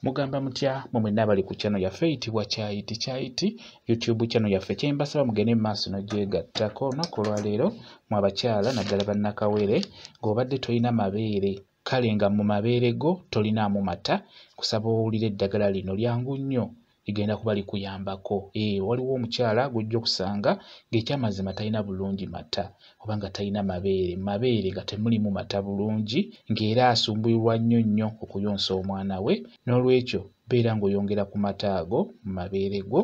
mugamba mutya mwe mwenna abali ku channel yaffe eyitibwa kyayiti kyayiti youtube channel yaffe kyembasaba mugende mu maaso nogyegattako olunaku olwaleero mu abakyala naddala bannakawere ng'obadde tolina mabeere kale nga mu mabeere go tolinaamu mata kusaba owulira eddagala lino lyangu nnyo ligenda kuba likuyambako ee waliwo omukyala gwojja okusanga ng'ekyamazima talina bulungi mata oba nga talina mabeere mabeere nga temulimu mata bulungi ng'era asumbuyirwa nnyo nnyo okuyonsa omwana we n'olwekyo beera ng'oyongera ku mata ago mu mabeere go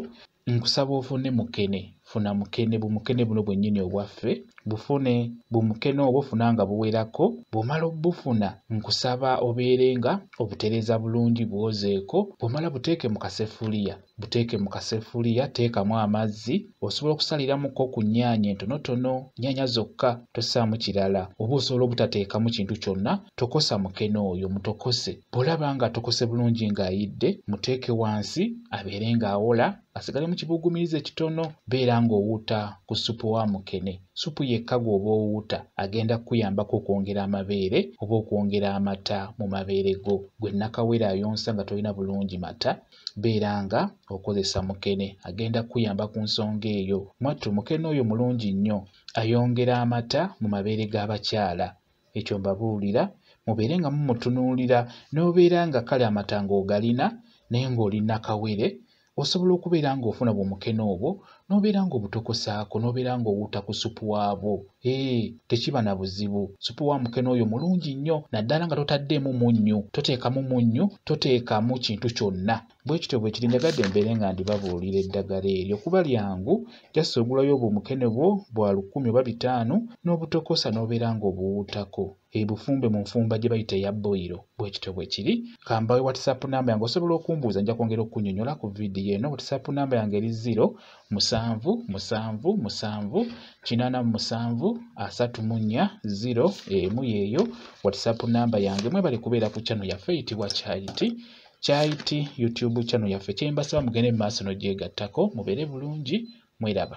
nkusaba ofune mukene funa mukene bumukene buno bwennyini obwaffe bufune bumukene obwo funa nga buwerako bw'omala obufuna nkusaba obeere nga obutereeza bulungi bwozeeko bw'omala buteeke mu kasefuliya buteeke mu kasefuliya teekamu amazzi osobola okusaliramuko ku nnyaanya entonotono nnyaanya zokka tossaamu kirala oba osobola obutateekamu kintu kyonna tokosa mukene oyo mutokose bw'olaba nga atokose bulungi ng'ayidde muteeke wansi abeere ng'awola asigale mu kibuguumirize kitono beera ng'owuuta ku ssupu wa mukene ssupu yekka gw'oba owuuta agenda kukuyambako okwongera amabeere oba okwongera amata mu mabeere go gwe nakawere ayonsa nga tolina bulungi mata beera nga okozesa mukene agenda kukuyamba ku nsonga eyo mwattu mukene oyo mulungi nnyo ayongera amata mu mabeere g'abakyala ekyo mbabuulira mubeere nga mumutunuulira n'obeera nga kale amatanga ogalina naye ng'oli nakawere osobola okubeera ng'ofuna bwomukene obwo n'obeera ng'obutokosaako n'obeera ng'owuuta ku supu waabwo ee tekiba na buzibu supu wa mukene oyo mulungi nnyo naddala nga totaddeemu munnyu toteekamu munnyu toteekamu kintu kyonna bwe kityo bwe kiri njagadde mbeere nga ndibabuulira eddagala eryo kuba lyangu jasi ogulayo obwo omukene bwo bwa lukumi oba bitaano n'obutokosa n'obeera ng'obuwuutako ebufumbe mu nfumba gye bayita eya boyiro bwe kityo bwe kiri kambawe whatsapp namba yange osobola okumbuuza nja kwongera okunyonyola ku vidiyo eno whatsapp namba yange eri ziro musanvu musanvu musanvu kinaana mu musanvu asatu mu nnya ziro emu yeeyo whatsapp namba yange mwebali kubeera ku kyano yaffe eyitibwa charity kyait youtube channel yaffe kyembasaba mugende mu maaso n'ogyegattako mubeere bulungi mweraba